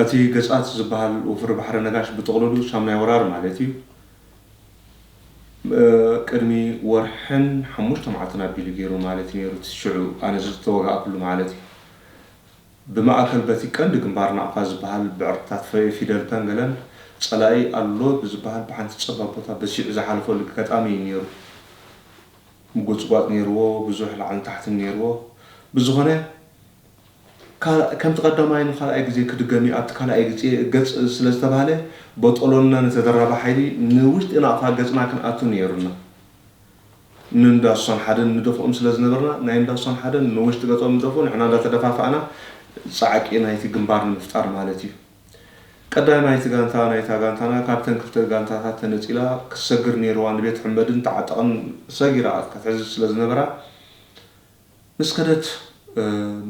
እቲ ገጻት ዝበሃል ወፍሪ ባሕሪ ነጋሽ ብጥቕልሉ ሳምናይ ወራር ማለት እዩ። ቅድሚ ወርሕን ሓሙሽተ መዓልትን ኣቢሉ ገይሩ ማለት እዩ ነይሩ፣ እቲ ሽዑ ኣነ ዝተወጋእኩሉ ማለት እዩ። ብማእከል በቲ ቀንዲ ግንባር ናቕፋ ዝበሃል ብዕርድታት ፊደልታን ገለን ጸላኢ ኣሎ ብዝበሃል ብሓንቲ ጸባብ ቦታ በሲዑ ዝሓለፈሉ ገጋጣሚ እዩ ነይሩ። ምጉጽጓጽ ነይርዎ፣ ብዙሕ ላዕልን ታሕትን ነይርዎ። ብዝኾነ። ከምቲ ቀዳማይን ኻልኣይ ግዜ ክድገም እዩ ኣብቲ ካልኣይ ግጼ ገጽ ስለ ዝተባህለ ቦጦሎንና ንተደራቢ ሓይሊ ንውሽጢ ናቕፋ ገጽና ክንኣቱ ነይሩና ን እንዳ ሱሳን ሓደን ንደፍኦም ስለ ዝነበርና ናይ እንዳ ሱሳን ሓደን ንውሽጢ ገጾም ይደፍኡ ንሕና እንዳተደፋፋእና ጻዕቂ ናይቲ ግንባር ንምፍጣር ማለት እዩ ቀዳይማይቲ ጋንታ ናይታ ጋንታና ካብተን ክልተ ጋንታታት ተነጺላ ክትሰግር ነይርዋ ንቤት ሕመድን ተዓጠቕን ሰጊራ ክትሕዝ ስለ ዝነበራ ምስ ከደት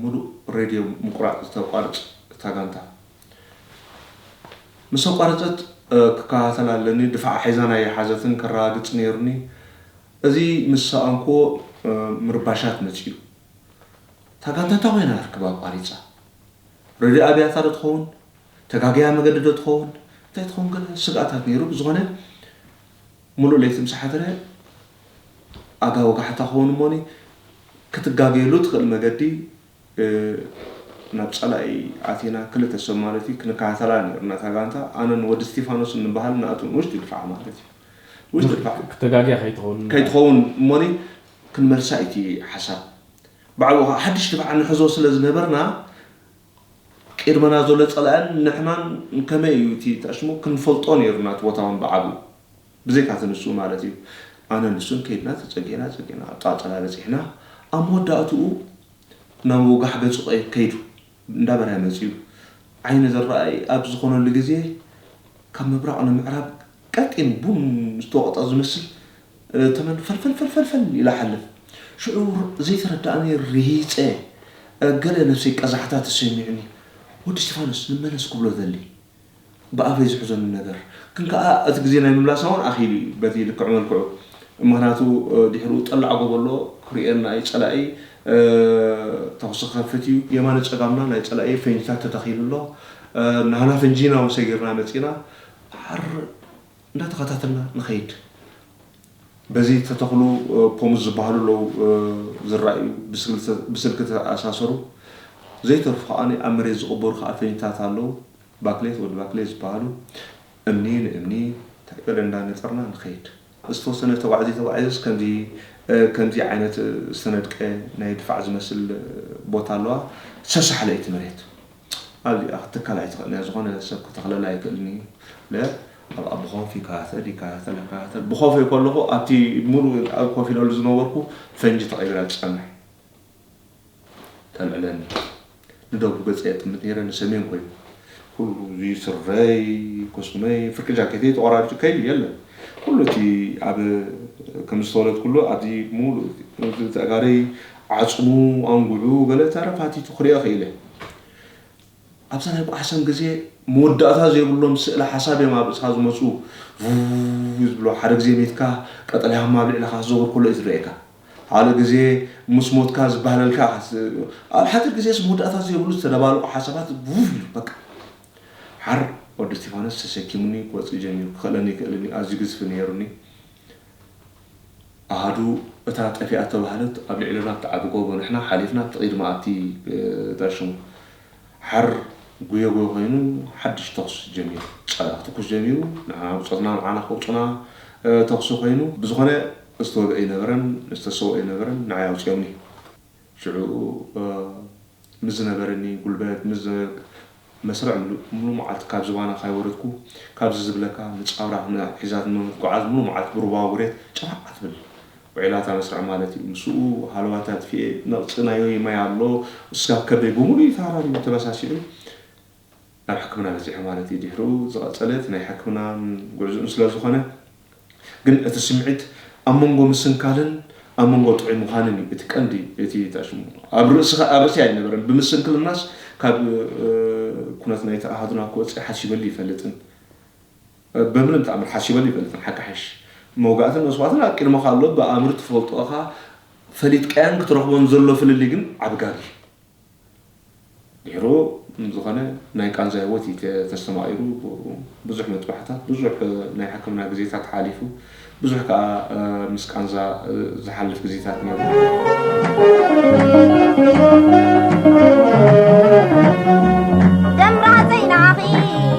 ሙሉእ ሬድዮ ምቁራፅ ዝተቋርፅ እታ ጋንታ ምስ ኣቋረፀት ክከታተላ ኣለኒ ድፋዓ ሒዛን ኣይሓዘትን ከረጋግፅ ነይሩኒ እዚ ምስ ሰኣንኩዎ ምርባሻት መፂኡ እታ ጋንታ እንታይ ኮይና ርክብ ኣቋሪፃ ሬድዮ ኣብያታ ዶ ትኸውን ተጋግያ መገዲ ዶ ትኸውን እንታይ ትኸውን ገለ ስግኣታት ነይሩ ብዝኾነ ምሉእ ለይቲ ምስ ሓደረ ኣጋ ወጋሕታ ክኸውን እሞኒ ክትጋገየሉ እትኽእል መገዲ ናብ ጸላኢ ኣቲና ክልተ ሰብ ማለት እዩ ክንከታተላ ኔርና እታ ጋንታ ኣነን ወዲ እስቲፋኖስን ንበሃል ንኣትውን ውሽጢ ድፋዕ ማለት እዩ ውሽጢ ድፋዕ ክተጋግያ ከይትኸውን ከይትኸውን እሞኒ ክንመልሳ እዩ እቲ ሓሳብ ብዓብኡ ከኣ ሓድሽ ድፋዕ ንሕዞ ስለ ዝነበርና ቅድመና ዘሎ ጸላእን ንሕናን ከመይ እዩ እቲ ተኣሽሙ ክንፈልጦ ነይሩና እቲ ቦታ ውን ብዓቢኡ ብዘይካ እቲ ንሱ ማለት እዩ ኣነን ንሱን ከይድና ተጸጊዕና ጸጊዕና ኣብ ጥቓ ጸላኢ በጺሕና ኣብ መወዳእትኡ ናብ ወጋሕ ገጹ ከይዱ እንዳ በርሀ መጺኡ ዓይኒ ዝራኣይ ኣብ ዝኾነሉ ግዜ ካብ ምብራቕ ንምዕራብ ቀጢን ቡን ዝተወቕጠ ዝመስል ተመን ፈልፈልፈልፈልፈል ኢለ እሓልፍ። ሽዑ ዘይተረድኣኒ ርሂጸ ገለ ነብሰይ ቀዛሕታ ተሰሚዑኒ፣ ወዲ እስጢፋኖስ ንመለስ ክብሎ እደሊ። ብኣፈይ ዝሕዘሉ ነገር ግን ከኣ እቲ ግዜ ናይ ምምላሳ ውን ኣኺሉ እዩ በቲ ልክዕ መልክዑ። ምኽንያቱ ድሕርኡ ጠላዕ ጎበሎ ክርእየና እዩ፣ ጸላኢ ተኹሲ ክኸፍት እዩ። የማነ ጸጋምና ናይ ጸላኢ ፈንጂታት ተተኺሉ ኣሎ። ናህና ፈንጂና ውን ሰጊርና መጺእና። ዓርር! እንዳተኸታተልና ንኸይድ በዚ ዝተተኽሉ ፖምስ ዝበሃሉ ኣለው ዝራኣዩ ብስልኪ ዝተኣሳሰሩ ዘይተርፉ ከኣ ኣብ መሬት ዝቅበሩ ከኣ ፈንጅታት ኣለው ባክሌት ወዲ ባክሌት ዝበሃሉ እምኒ ንእምኒ ተዕቅድ እንዳነጸርና ንኸይድ። ዝተወሰነ ተጓዕዙ ተጓዒዙስ ከምዚ ከምዚ ዓይነት ዝተነድቀ ናይ ድፋዕ ዝመስል ቦታ ኣለዋ ሰሳሕ ለይቲ መሬት ኣብዚኣ ክትትከል ኣይትኽእልን እያ ዝኾነ ሰብ ክተኽለላ ኣይክእልን እዩ ለ ኣብ ኣብ ብኾፍ ይከታተል ይከታተል ይከታተል ብኾፈይ ከለኹ ኣብቲ ሙሉእ ኣብ ኮፍ ኢለሉ ዝነበርኩ ፈንጂ ተቐይራ ትጸንሕ ተልዕለኒ ንደቡብ ገጸ የጥምት ነይረ ንሰሜን ኮይኑ ኩሉ እዚ ስረይ ኮስመይ ፍርቂ ጃኬተይ ተቆራሪጹ ከይዱ የለን ኩሉ እቲ ኣብ ከም ዝተወለድኩሉ ኣብዚ ሙሉእ ተጋሪ ዓጽሙ ኣንጉዑ ገለ ተረፍ ሃቲቱ ክሪኦ ክኢለ። ኣብዛ ናይ ጉዓሰም ግዜ መወዳእታ ዘይብሎም ስእለ ሓሳብ እዮም ኣብ ርእስኻ ዝመጹ ቭቭቭ ዝብሉ ሓደ ግዜ ሚትካ ቀጠልያ ህሞት ኣብ ልዕለኻ ክዘውር ከሎ እዩ ዝረኣየካ ካልእ ግዜ ምስ ሞትካ ዝበህለልካ ኢኻ ኣብ ሓጺር ግዜስ መወዳእታ ዘይብሉ ዝተደባለቁ ሓሳባት ቭቭ ኢሉ በቃ ሓር ወዲ እስቲፋኖስ ተሰኪሙኒ ክወጽእ ጀሚሩ ክኽእለኒ ኣይክእልን እዩ ኣዝዩ ግዝፊ ነይሩኒ ኣሃዱ እታ ጠፊኣ እተባህለት ኣብ ልዕለና እትዓቢ ጎቦ ንሕና ሓሊፍና ኣብቲ ቅይዲ መኣቲ ተርሽሙ ሓር ጉዮ ጉዮ ኮይኑ ሓድሽ ተኹሲ ጀሚሩ ጸላ ክትኩስ ጀሚሩ ንሕና ብጾትና ንዓና ከውጹና ተኹሲ ኮይኑ ብዝኾነ ዝተወግኣ ኣይነበረን ዝተሰውኣ ኣይነበረን ንዓይ ኣውጺኦምኒ ሽዑ ምስ ዝነበረኒ ጉልበት፣ ምስ ዝነበ መስርዕ ምሉእ ምሉእ መዓልቲ ካብ ዝባና ካይወረድኩ፣ ካብዚ ዝብለካ ንጫውራ ሒዛትኒ ብምትጉዓዝ ምሉእ መዓልቲ ብሩባ ውሬት ጭራዕ ኣትብል ውዒላ እታ መስርዕ ማለት እዩ። ምስኡ ሃለዋተይ ኣጥፊኤ ነቕጽ ናዮይ ማይ ኣሎ እስጋ ከብደይ ብምሉኡ እዩ ተሃራሪሙ ተበሳሲዑ። ናብ ሕክምና በጺሑ ማለት እዩ ድሕሩ ዝቐጸለ እቲ ናይ ሕክምና ጉዕዝኡን ስለ ዝኾነ ግን እቲ ስምዒት ኣብ መንጎ ምስንካልን ኣብ መንጎ ጥዑይ ምዃንን እዩ እቲ ቀንዲ እቲ ተኣሽሙ ኣብ ርእስኻ ኣብ ርእሲ ኣይነበረን ብምስንክልናስ ካብ ኩነት ናይቲ ኣሃዱና ክወጽእ ሓሲበሉ ይፈልጥን በምንም ተኣምር ሓሲበሉ ይፈልጥን ሓቂ ሓይሽ መውጋእትን መስዋእትን ኣብ ቅድመኻ ኣሎ ብኣምር ትፈልጦ እኻ ፈሊጥካዮን ክትረኽቦን ዘሎ ፍልልይ ግን ዓቢ ጋግ እዩ ድሕሩ ዝኾነ ናይ ቃንዛ ህይወት እዩ ተስተማቒሩ። ብዙሕ ምጥባሕታት፣ ብዙሕ ናይ ሕክምና ግዜታት ሓሊፉ፣ ብዙሕ ከኣ ምስ ቃንዛ ዝሓልፍ ግዜታት ነይሩ።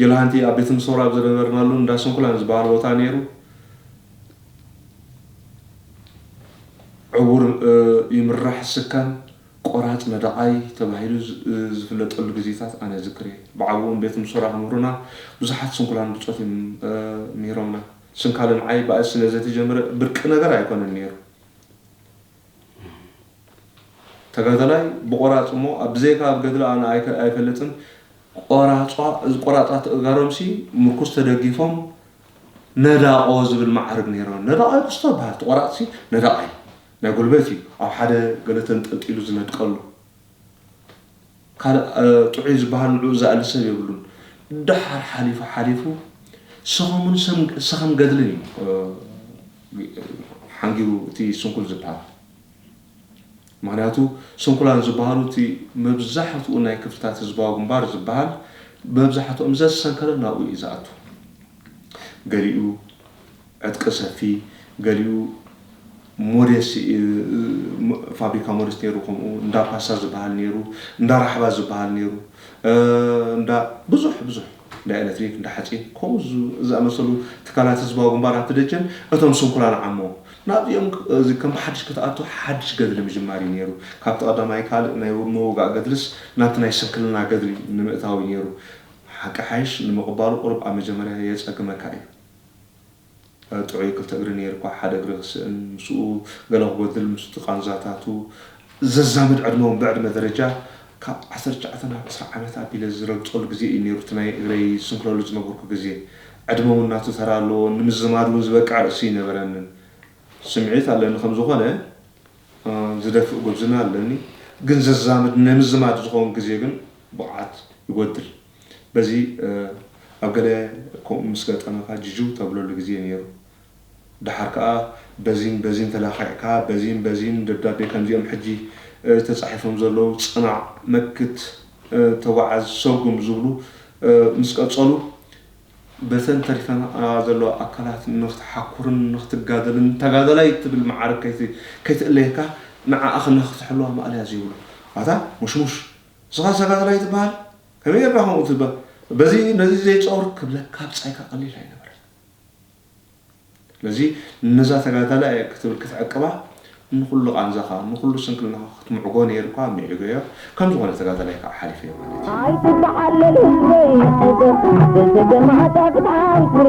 ጅልሃንቲ ኣብ ቤት ምሶር ኣብ ዝነበርናሉ እንዳ ስንኩላን ዝበሃል ቦታ ነይሩ ዕዉር ይምራሕ ስካን ቆራፅ ነደቓይ ተባሂሉ ዝፍለጠሉ ግዜታት ኣነ እዝክር እየ። ብዓብኡም ቤት ምሶራ ክምህሩና ብዙሓት ስንኩላን ብፆት እዮም ምሂሮምና። ስንካለ ንዓይ ባእሲ ስለዘተጀምረ ብርቂ ነገር ኣይኮነን ነይሩ። ተጋዳላይ ብቆራፅ እሞ ብዘይካ ኣብ ገድሊ ኣነ ኣይፈልጥን ቆራፃት ተእጋሮምሲ ምርኩስ ተደጊፎም ነዳቆ ዝብል መዓርግ ነይሮ ነዳቃይ ኩስቶ ይበሃል እቲ ቆራፅሲ ነዳቃይ ናይ ጉልበት እዩ ኣብ ሓደ ገለ ተንጠልጢሉ ዝነድቀሉ ካልእ ጥዑይ ዝበሃል ንዕኡ ዝኣሊ ሰብ የብሉን። ደሓር ሓሊፉ ሓሊፉ ሰኸሙን ሰኸም ገድልን እዩ ሓንጊሩ እቲ ስንኩል ዝበሃል። ምኽንያቱ ስንኩላን ዝበሃሉ እቲ መብዛሕትኡ ናይ ክፍልታት ህዝባዊ ግንባር ዝበሃል መብዛሕትኦም ዘዝሰንከለ ናብኡ እዩ ዝኣቱ። ገሊኡ ዕጥቂ ሰፊ፣ ገሊኡ ሞዴስ ፋብሪካ ሞዴስ ነይሩ ከምኡ እንዳ ፓስታ ዝብሃል ነይሩ እንዳ ራሕባ ዝብሃል ነይሩ እንዳ ብዙሕ ብዙሕ እንዳ ኤለትሪክ እንዳ ሓጺን ከምኡ ዝኣመሰሉ ትካላት ህዝባዊ ግንባር ኣብቲ ደጀን እቶም ስንኩላን ዓሞም ናብዚኦም እዚ ከም ብሓድሽ ክትኣቱ ሓድሽ ገድሊ ምጅማር እዩ ነይሩ ካብቲ ቀዳማይ ካልእ ናይ ምውጋእ ገድልስ ናብቲ ናይ ስንክልና ገድሊ ንምእታው እዩ ነይሩ ሓቂ ሓይሽ ንምቕባሉ ቁሩብ ኣብ መጀመርያ የጸግመካ እዩ ጥዑይ ክልተ እግሪ ነይሩኳ ሓደ እግሪ ክስእን ምስኡ ገለ ክጎድል ምስቲ ቃንዛታቱ ዘዛምድ ዕድመውን ብዕድመ ደረጃ ካብ ዓሰርተ ትሽዓተ ናብ ዕስራ ዓመት ኣቢለ ዝረግጸሉ ግዜ እዩ ነይሩ እቲ ናይ እግረይ ዝስንክለሉ ዝነበርኩ ግዜ ዕድመውን ናቱ ተራ ኣለዎ ንምዝማድውን ዝበቅዕ ርእሲ ኣይነበረንን ስምዒት ኣለኒ ከም ዝኾነ ዝደፍእ ጉብዝና ኣለኒ ግን ዘዛምድ ንምዝማድ ዝኸውን ግዜ ግን ብቕዓት ይጎድል። በዚ ኣብ ገለ ከምኡ ምስ ገጠመካ ጅጅው ተብለሉ ግዜ ነይሩ። ደሓር ከኣ በዚን በዚን ተለኻኺዕካ በዚን በዚን ደብዳቤ ከምዚኦም ሕጂ ተጻሒፎም ዘለዉ ጽናዕ፣ መክት፣ ተጓዓዝ፣ ሰጉም ዝብሉ ምስ ቀጸሉ በተን ተሪፈናኣ ዘለዋ ኣካላት ንኽትሓኩርን ንኽትጋደልን ተጋዳላይ ትብል መዓርግ ከይትእለየካ ንዓኣ ከነኽትሕልዋ ማእለያ ዘይብሉ ኣታ ሙሽሙሽ ንስኻ ሰጋትላይ ትበሃል ከመይ ጌርካ ከምኡ ትብል በዚ ነዚ ዘይጾር ክብለካ ብጻይካ ቀሊል ኣይነበረን ስለዚ ነዛ ተጋዳላይ እየ ክትብል ክትዕቅባ ንኹሉ ቃንዛኻ ንኹሉ ስንክልናኻ ክትምዕጎ ነይሩካ ምዒገዮ ከም ዝኾነ ተጋዳላይ ከዓ ሓሊፈዮ ማለት እዩ ኣይትበሓለል ህዝበይ ኣይዞ ገማታ ፍትሓዊ ትረ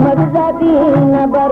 መግዛቲ ነበር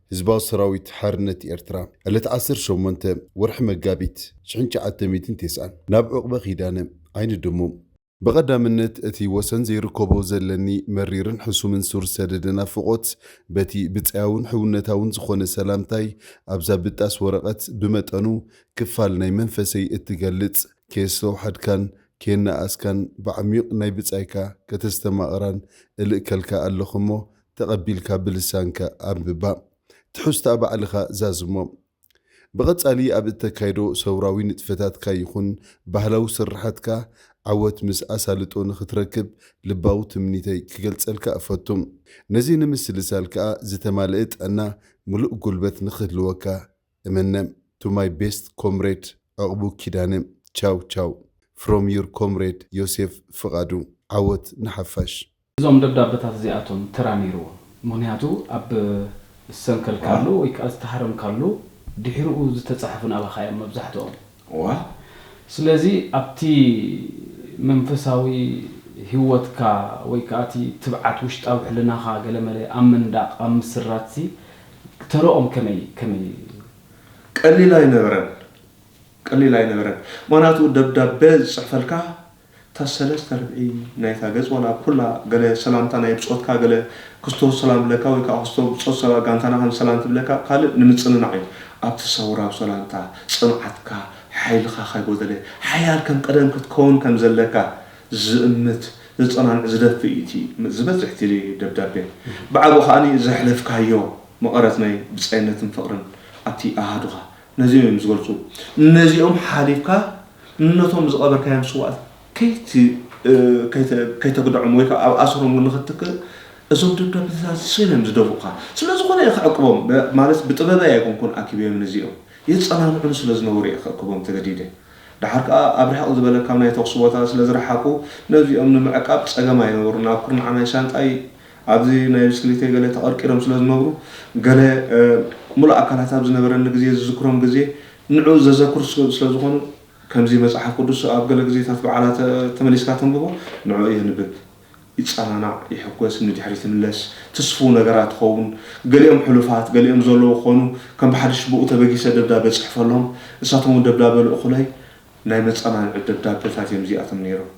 ህዝባዊ ሰራዊት ሓርነት ኤርትራ ዕለት ዓሰርተ ሸሞንተ ወርሒ መጋቢት ሽሕን ትሽዓተ ሚእትን ቴስዓን ናብ ዑቕበ ኪዳነ፣ ዓይኒ ድሙ፣ ብቐዳምነት እቲ ወሰን ዘይርከቦ ዘለኒ መሪርን ሕሱምን ሱር ሰደደ ናፍቖት በቲ ብጻያውን ሕውነታውን ዝኾነ ሰላምታይ ኣብዛ ብጣስ ወረቐት ብመጠኑ ክፋል ናይ መንፈሰይ እትገልጽ ከየስተውሓድካን ከየነኣኣስካን ብዓሚዩቕ ናይ ብጻይካ ከተስተማቕራን እልእከልካ ኣለኹ'ሞ ተቐቢልካ ብልሳንካ ኣንብባ፣ ትሕዝቶኣ ባዕልኻ ዛዝሞ። ብቐጻሊ ኣብ እተካይዶ ሰውራዊ ንጥፈታትካ ይኹን ባህላዊ ስርሓትካ ዓወት ምስ ኣሳልጦ ንኽትረክብ ልባዊ ትምኒተይ ክገልጸልካ እፈቱ። ነዚ ንምስልሳል ከኣ ዝተማልኤ ጥዕና ምሉእ ጉልበት ንኽህልወካ እምነ። To my best comrade ዕቕቡ ኪዳነ ቻው ቻው From your comrade ዮሴፍ ፍቓዱ ዓወት ንሓፋሽ! እዞም ደብዳበታት እዚኣቶም ተራ ነይርዎም፣ ምኽንያቱ ኣብ ዝሰንከልካሉ ወይ ከኣ ዝተሃረምካሉ ድሒሩኡ ዝተጻሕፉ ናባኻ እዮም መብዛሕትኦም። ስለዚ ኣብቲ መንፈሳዊ ህይወትካ ወይ ከኣ እቲ ትብዓት ውሽጣዊ ሕልናኻ ገለመለ ኣብ ምንዳቕ ኣብ ምስራትሲ ተርኦም ከመይ ከመይ እዩ? ቀሊል ኣይነበረን፣ ቀሊል ኣይነበረን። ምኽንያቱ ደብዳበ ዝጽሕፈልካ እታ ሰለስተ ርብዒ ናይታ ገጽ ዋላ ኩላ ገለ ሰላምታ ናይ ብጾትካ ገለ ክስቶ ሰላም ብለካ ወይ ከኣ ክስቶ ብጾት ሰባ ጋንታና ከም ሰላም ትብለካ ካልእ ንምጽንናዕ እዩ ኣብቲ ሰውራዊ ሰላምታ ጽንዓትካ ሓይልኻ ካይጎደለ ሓያል ከም ቀደም ክትከውን ከም ዘለካ ዝእምት ዘጸናንዕ ዝደፍእ እዩ እቲ ዝበዝሕ እቲ ደብዳቤ ብዓቢኡ ከኣ ዘሕለፍካዮ መቐረት ናይ ብጻይነትን ፍቕርን ኣብቲ ኣሃዱኻ ነዚኦም እዮም ዝገልፁ። ነዚኦም ሓሊፍካ ነቶም ዝቐበርካዮም ስውኣት ከይተግደዖም ወይ ከዓ ኣብ ኣሰሮም ንኽትክእ እዞም ደብዳቤታት እዚኦም እዮም ዝደፍኡኻ። ስለዝኾነ እየ ከዕቅቦም ማለት ብጥበበይ ኣይኮንኩን ኣኪበዮም ነዚኦም የፀናንዑኒ ስለዝነበሩ እየ ከእክቦም ተገዲደ። ደሓር ከዓ ኣብ ርሕቕ ዝበለ ካብ ናይ ተኹሲ ቦታ ስለዝረሓቑ ነዚኦም ንምዕቃብ ፀገም ኣይነበሩን። ኣብ ኩርናዕ ናይ ሻንጣይ ኣብዚ ናይ ብስክሊተይ ገለ ተቐርቂሮም ስለ ዝነብሩ፣ ገለ ምሉእ ኣካላት ኣብ ዝነበረኒ ግዜ ዝዝክሮም ግዜ ንዕኡ ዘዘክሩ ስለ ዝኾኑ፣ ከምዚ መጽሓፍ ቅዱስ ኣብ ገለ ግዜታት በዓላት ተመሊስካ ተንብቦ፣ ንዕኡ የንብብ፣ ይጸናናዕ፣ ይሕጎስ፣ ንድሕሪት ይምለስ፣ ትስፉው ነገራት ይኸውን፣ ገሊኦም ሕሉፋት፣ ገሊኦም ዘለዉ ክኾኑ፣ ከም ብሓድሽ ብኡ ተበጊሰ ደብዳበ እጽሕፈሎም፣ ንሳቶም'ውን ደብዳበ ልእኹለይ፣ ናይ መጸናንዒ ደብዳበታት እዮም እዚኣቶም ነይሮም።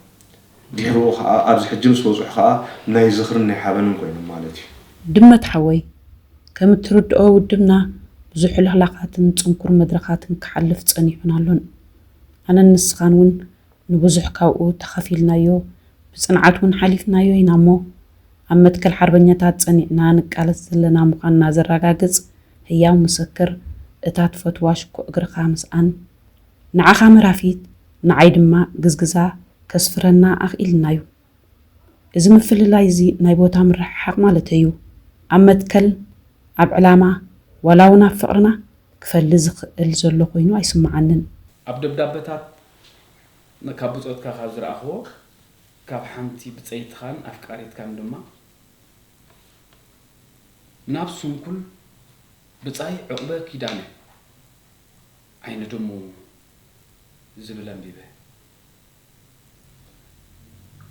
ድሕሩ ከኣ ኣብዚ ሕጂ ምስ በጽሑ ከኣ ናይ ዝኽርን ናይ ሓበንን ኮይኖም ማለት እዩ። ድመት ሓወይ ከም እትርድኦ ውድብና ብዙሕ ልኽላኻትን ጽንኩር መድረኻትን ክሓልፍ ጸኒሑን ኣሎን። ኣነን ንስኻን ውን ንብዙሕ ካብኡ ተኻፊልናዮ ብጽንዓት ውን ሓሊፍናዮ ኢና እሞ ኣብ መትከል ሓርበኛታት ጸኒዕና ንቃለስ ዘለና ምዃንና ዘራጋግጽ ህያው ምሰክር እታ ትፈትዋ ሽኮ እግርኻ ምስኣን ንዓኻ መራፊት ንዓይ ድማ ግዝግዛ ከስፍረና ኣኽኢልና'ዩ። እዚ ምፍልላይ'ዚ ናይ ቦታ ምርሕሓቕ ማለተይ'ዩ። ኣብ መትከል፣ ኣብ ዕላማ፣ ዋላ'ውን ኣብ ፍቕርና ክፈሊ ዝኽእል ዘሎ ኮይኑ ኣይስምዓንን። ኣብ ደብዳበታት ካብ ብጾትካ ካብ ዝረኣኽዎ፣ ካብ ሓንቲ ብጸይትኻን ኣፍቃሪትካን ድማ ናብ ስንኩል ብጻይ ዑቕበ ኪዳነ፣ ዓይኒ ድሙ ዝብል ኣንቢበ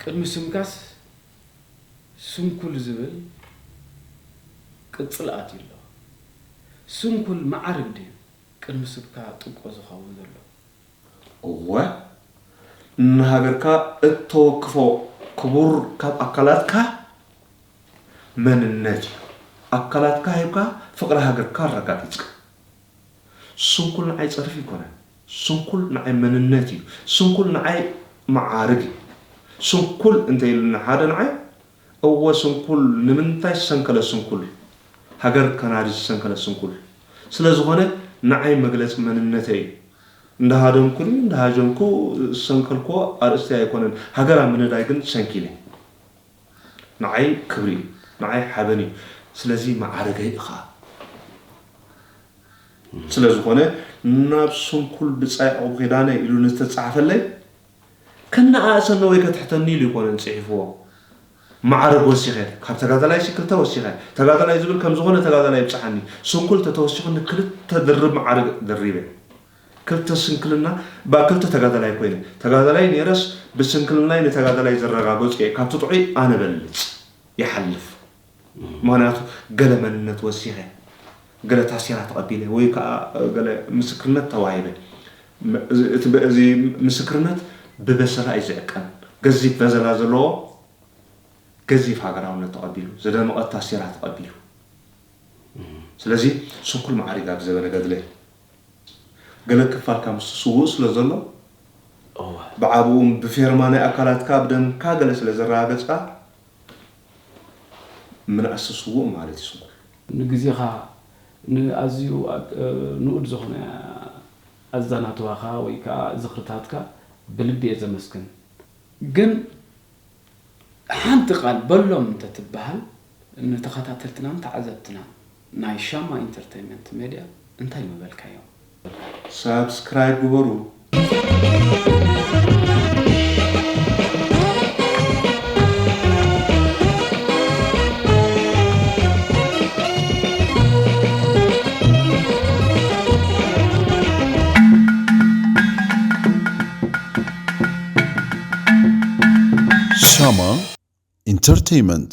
ቅድሚ ስምካስ ስንኩል ዝብል ቅጽል ኣትዩ ኣሎ ስንኩል መዓርግ ድዩ ቅድሚ ስብካ ጥብቆ ዝከውን ዘሎ። እወ ንሃገርካ እተወክፎ ክቡር ካብ ኣካላትካ መንነት እዩ ኣካላትካ ሂብካ ፍቅሪ ሃገርካ ኣረጋጊጽካ። ስንኩል ንዓይ ጸርፊ ኣይኮነን ስንኩል ንዓይ መንነት እዩ ስንኩል ንዓይ መዓርግ እዩ ስንኩል እንተ ኢሉኒ ሓደ ንዓይ እወ ስንኩል ንምንታይ ዝሰንከለ ስንኩል ሃገር ከናዲ ዝሰንከለ ስንኩል ስለ ዝኾነ ንዓይ መግለጺ መንነተይ እዩ እንዳሃደምኩን እንዳሃጀምኩ ዝሰንከልክዎ ኣርእስተይ ኣይኮነን ሃገር ኣብ ምንዳይ ግን ሰንኪለ። ንዓይ ክብሪ እዩ ንዓይ ሓበን እዩ ስለዚ መዓርገይ እኻ ስለዝኾነ ናብ ስንኩል ብጻይ ዕቑብ ኪዳነ ኢሉ ንዝተጻሕፈለይ ከነኣእሰኒ ወይ ከትሕተኒ ኢሉ ኣይኮነን ጽሒፍዎ መዓርግ ወሲኸ ካብ ተጋዳላይሲ ክልተ ወሲኸ ተጋዳላይ ዝብል ከምዝኾነ ተጋዳላይ ይብጽሓኒ ስንኩል ተተወሲኹኒ ክልተ ድርብ መዓርግ ደሪበ ክልተ ስንክልና ብ ክልተ ተጋዳላይ ኮይነ ተጋዳላይ ኔረስ ብስንክልናይ ንተጋዳላይ ዘረጋገጹ እየ ካብቲ ጥዑይ ኣነ በልጽ ይሓልፍ ምክንያቱ ገለ መንነት ወሲከ ገለ ታሴራ ተቀቢለ ወይ ከኣ ገለ ምስክርነት ተዋሂበ እዚ ምስክርነት ብበሰላ እዩ ዝዕቀን ገዚፍ በዘላ ዘለዎ ገዚፍ ሃገራውነት ተቀቢሉ ዝደመቀት ታሴራ ተቀቢሉ ስለዚ ስንኩል ማዓሪጋ ብዘበነ ገድለ ገለ ክፋልካ ምስቲ ስዉእ ስለ ዘሎ፣ እወ። ብዓብኡ ብፌርማ ናይ ኣካላትካ ብደምካ ገለ ስለ ዘረጋገጽካ፣ ምናእሲ ስዉእ ማለት እዩ ስንኩል። ንግዜኻ፣ ንኣዝዩ ንኡድ ዝኾነ ኣዛናትዋኻ ወይ ከኣ ዝኽርታትካ ብልቢ እየ ዘመስግን። ግን ሓንቲ ቃል በሎም እንተትበሃል ንተኸታተልትናን ተዓዘብትናን ናይ ሻማ ኢንተርተይመንት ሜድያ እንታይ ምበልካዮም? ሳብስክራይብ ግበሩ። ሻማ ኢንተርተይመንት